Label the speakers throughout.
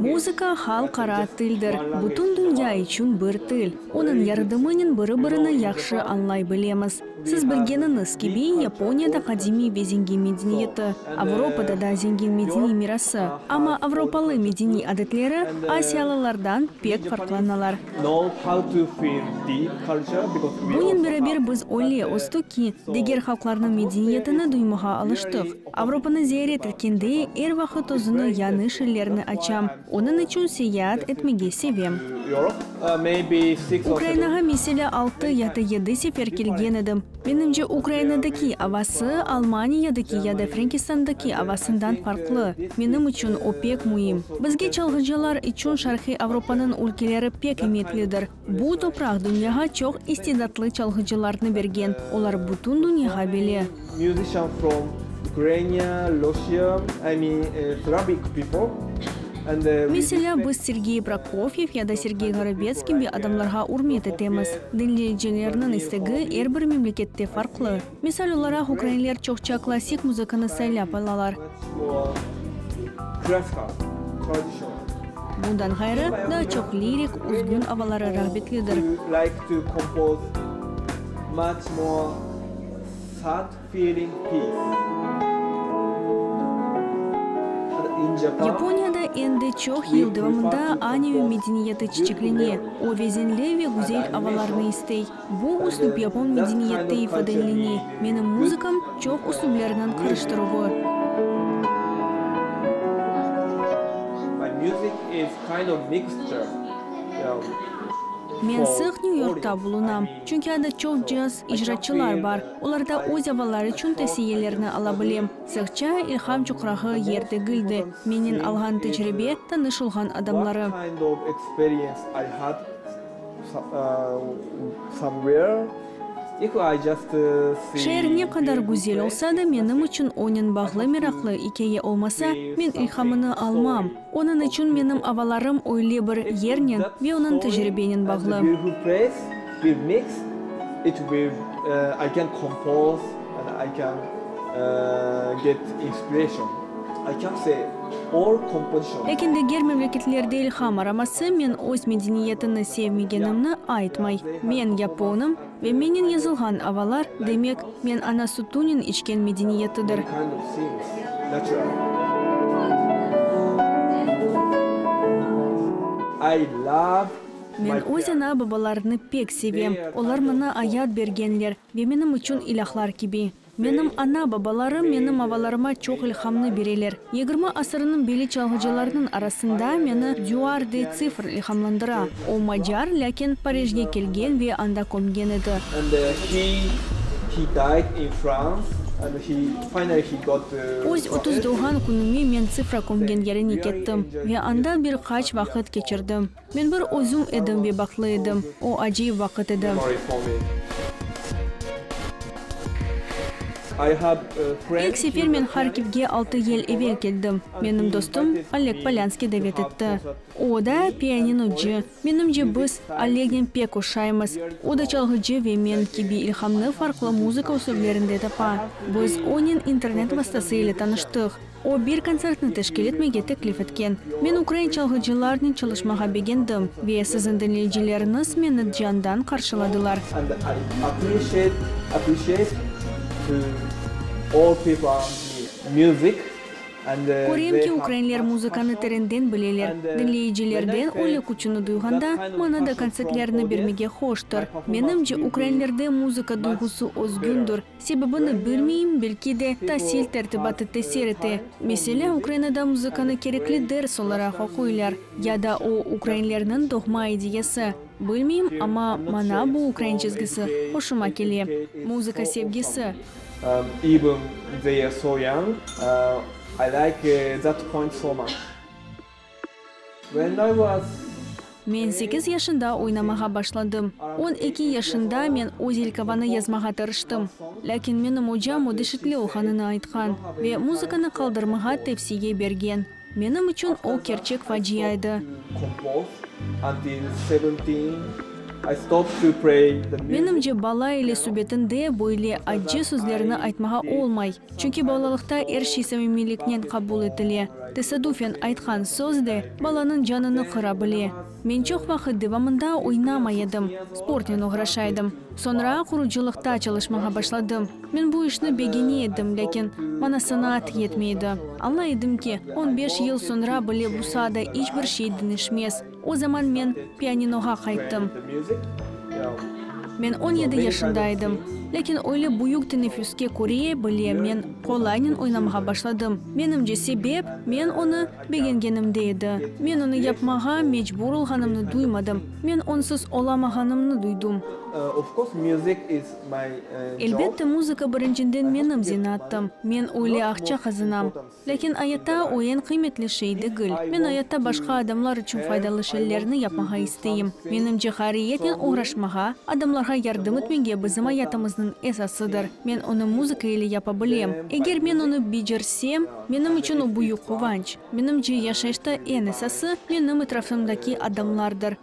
Speaker 1: Muzıka, halq ara tildir, bütün dünya içün bir til. Onıñ yardımınen biri-birini yahşı añlay bilemiz. Siz bilgeniñiz kibi, Yaponiyada qadimiy ve zengin medeniyeti, Avropada da zengin medeniy mirası, amma avropalı medeniy adetleri asiyalılardan pek farqlanalar. Bunen beraber biz öyle östük ki, diger halqlarnıñ medeniyetini duymağa alıştıq. Avropanı ziyaret etkende, er vaqıt özüni yañış illerni açam. Onıñ içün seyaat etmege sevem. Ukrainağa meselâ altı ya da yedi sefer kelgen edim. Menimce, Ukrainadaki avası Almaniyadaki ya da Frenkistandaki avasından farqlı. Menim içün o pek müim. Bizge, çalğıcılar içün, Şarqiy Avropanıñ ülkeleri pek imitlidir. Bu topraq dünyağa çoq istidatlı çalğıcılarnı bergen, olar bütün dünyağa bile.
Speaker 2: Meselâ,
Speaker 1: biz Sergey Prokofyev ya da Sergey Gorobets kibi adamlarğa ürmet etemiz. Diñleyicilerniñ istegi er bir memlekette farqlı. Misal olaraq, ukrainler çoqça klassik muzıkanı saylap alalar. Bundan ğayrı, daa çoq lirik, üzgün avaları rağbetlidir. Yaponiyada endi çoq yıl devamında aneü medeniyeti çiçeklene, o vezinli ve güzel avalarnı istey. Bu üslüp yapon medeniyette ifadeleney, menim muzıkam, çoq üslüplerniñ qırıştıruvı. Men sıq New Yorkta bulunam, çünki anda çoq caz icraçılar bar, olarda öz avalları içün tavsiyelerni ala bilem. Sığça, ilham çuqrağı yer degil de, mennen alğan tecribe, tanış olğan adamları. Şeer ne qadar güzel olsa da, menim içün onıñ bağlı meraqlı ikâye olmasa, men ilhamını almam. Onıñ içün menim avalarım öyle bir yernen ve onıñ tecribenen bağlı. I can get inspiration, I can say or composition. Lâkin diger memleketlerde ilham araması men öz medeniyetini sevmegenimni aytmay. Men yaponım ve mennen yazılğan avalar, demek, men ana sütünen içken medeniyetidir. Men öz ana-babalarını pek sevem, olar mına ayat bergenler, Ve menim içün ilâhlar kibi. Menim ana-babalarım menim avalarıma çoq ilhamnı bereler. Yigirmi asırnıñ beli çalğıcılarnıñ arasında meni Duar de Tsifr ilhamlandıra. O, macar, lâkin Parijge kelgen ve anda kömgen edi. Öz otuz doğğan künüme men Tsifra kömgen yerine kettim ve anda bir qaç vaqıt keçirdim. Men bir özüm edim ve bahtlı edim. O, acayip vaqıt edi. İlk sefer men Harkivge altı yıl evel keldim. Menim dostum Oleg Polânskiy davet etti. O da pianinoci. Menimce, biz Olegnen pek oşaymız. O da çalğıcı ve men kibi ilhamnı farqlı muzıka usülvlerinde tapa. Biz onen internet vasıtası ile tanıştıq. O, bir kontsertni teşkil etmege teklif etken. Men ukrain çalğıcılarnen çalışmağa begendim, ve siziñ diñleyicileriñiz meni candan qarşıladılar. Körem ki, ukrainler muzıkanı terenden bileler. Diñleyicilerden öyle küçüni duyğanda, maña da kontsertlerini bermege hoştır. Menimce, ukrainlerde muzıka duyğusı özgündir, Sebebini bilmeyim, belki de, tasil tertibatı tesir ete. Meselâ, Ukrainada muzıkanı kerekli ders olaraq oquylar, ya da o, ukrainlerniñ doğma ideyası. Bilmeyim, amma maña bu ukrain çizgisi hoşuma kele, muzıka sevgisi.
Speaker 2: Men
Speaker 1: sekiz yaşında oynamağa başladım. On eki yaşında men Ozelkovanı yazmağa tırıştım. Lâkin menim ocam o dişitli olğanını aytqan ve muzıkanı qaldırmağa tevsiye bergen. Menim içün o kerçek facia
Speaker 2: edi. Menimce, bala ile
Speaker 1: subetinde böyle acce sözlerni aytmağa olmay. Çünki balalıqta er şey samimiyliknen qabul etile. Tesadufen aytqan söz de balanıñ canını qıra bile. Men çoq vaqıt devamında oynamay edim, sportnen oğraşa edim. Soñra qurucılıqta çalışmağa başladım. Men bu işni begene edim, lâkin maña sanaat yetmey edi. Añlay edim ki, on beş yıl soñra bile bu saada iç bir şey deñişmez. O zaman men pianinoğa qayttım. Men on yedi yaşında edim. Lâkin öyle büyük tenefüske köre, bile, men qolaynen oynamağa başladım. Menimce, sebep, men onı begengenimde edi. Men onı yapmağa mecbur olğanımnı duymadım, men onsuz olamağanımnı duydum. Elbette, muzıka birincinden menim zeenaattım, men öyle aqça qazanam. Lâkin ayatta o eñ qıymetli şey degil. Men ayatta başqa adamlar içün faydalı şeylerni yapmağa isteyim. Menimce, hariyeten oğraşmağa, adamlarğa yardım etmege bizim ayatımıznıñ esasıdır. Men onı muzıka ile yapa bilem. Eger men onı becersem, menim içün o büyük quvanç. Menimce, yaşayışta eñ esası, menim etrafımdaki adamlardır.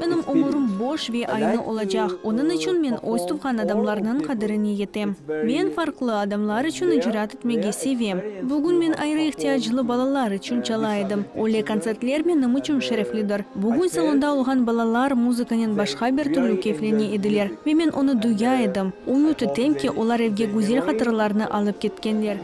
Speaker 2: Menim ömürim
Speaker 1: boş ve aynı olacaq, onıñ içün men öz tuvğan adamlarnıñ qadirine yetem. Men farqlı adamlar içün icraat etmege sevem. Bugün men ayrı ihtiyaclı balalar içün çala edim. Öyle kontsertler menim içün şereflidir. Bugün salonda olğan balalar muzıkanen başqa bir türlü keyflene ediler ve men onı duya edim. Ümüt etem ki, olar evge güzel hatırlarnı alıp ketkenler.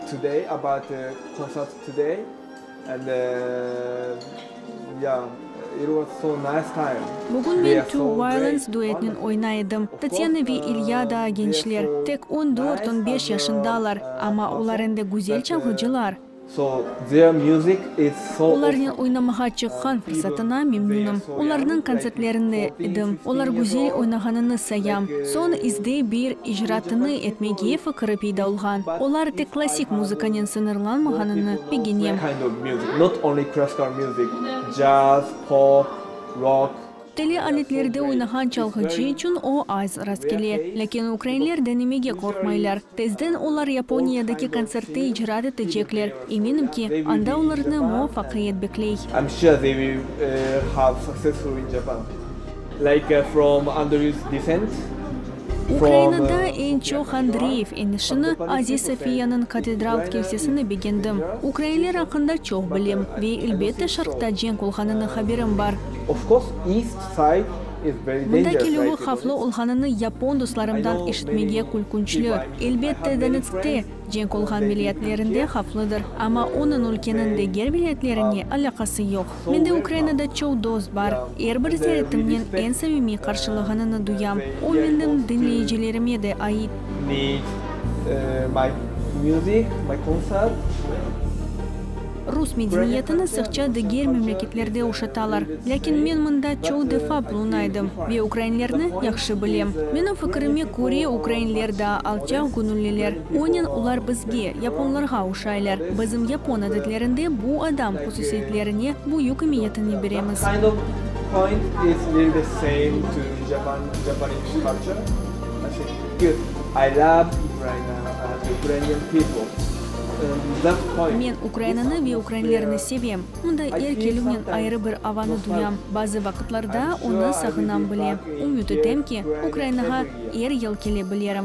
Speaker 2: Bugün men Two
Speaker 1: Violins duetinen oynay edim. Tatyana ve İlya daa gençler, tek on dört, on beş yaşındalar, amma olar endi güzel çalğıcılar.
Speaker 2: Olarnen oynamağa
Speaker 1: çıqqan fırsatına memnunım. Olarnıñ kontsertlerinde edim, olar güzel oynağanını sayam. Soñ izde bir icraatını etmege fikiri peyda olğan. Olar tek klassik muzıkanen sıñırlanmağanını ögene.
Speaker 2: Tele aletlerde
Speaker 1: oynağan çalğıcı içün o az rastkele. Lâkin ukrainler denemege qorqmaylar. Tezden olar Yaponiyadaki kontsertte icraat etecekler. Eminim ki, anda olarnı muvafaqiyet bekley.
Speaker 2: Ukrainada
Speaker 1: eñ çoq Andreyev enişini, Aziz Sofiyanıñ katedral kilsesini begendim. Ukrainler aqqında çoq bilem ve, elbette, Şarqta cenk olğanını haberim bar.
Speaker 2: Mında kelüvi havflı
Speaker 1: olğanını yapon dostlarımdan eşitmege külkünçli. Elbette, Donetskte. Cenk olğan milliyetlerinde havflıdır, amma onıñ ülkeniñ diger milliyetlerine alâqası yoq. Mende Ukrainada çoq dost bar, er bir ziyaretimnen eñ sevimiy qarşılığınını duyam, o meniñ diñleyicilerime de ait. Rus medeniyetini sıqça diger memleketlerde uşatalar, lâkin men mında çoq defa bulunaydım ve ukrainlerni yahşı bilem. Menim fikirime köre, ukrainler daa alçaq göñülliler, onen olar bizge, yaponlarğa uşaylar. Bizim yapon adetlerinde bu adam hususiyetlerine büyük emiyetini beremiz. Men Ukrainanı ve ukrainlerni sevem. Mında er kelüvnen ayrı bir avanı duyam. Bazı vaqıtlarda onı sağınam bile. Ümüt etem ki, Ukrainağa
Speaker 2: er yıl
Speaker 1: kele
Speaker 2: bilerim.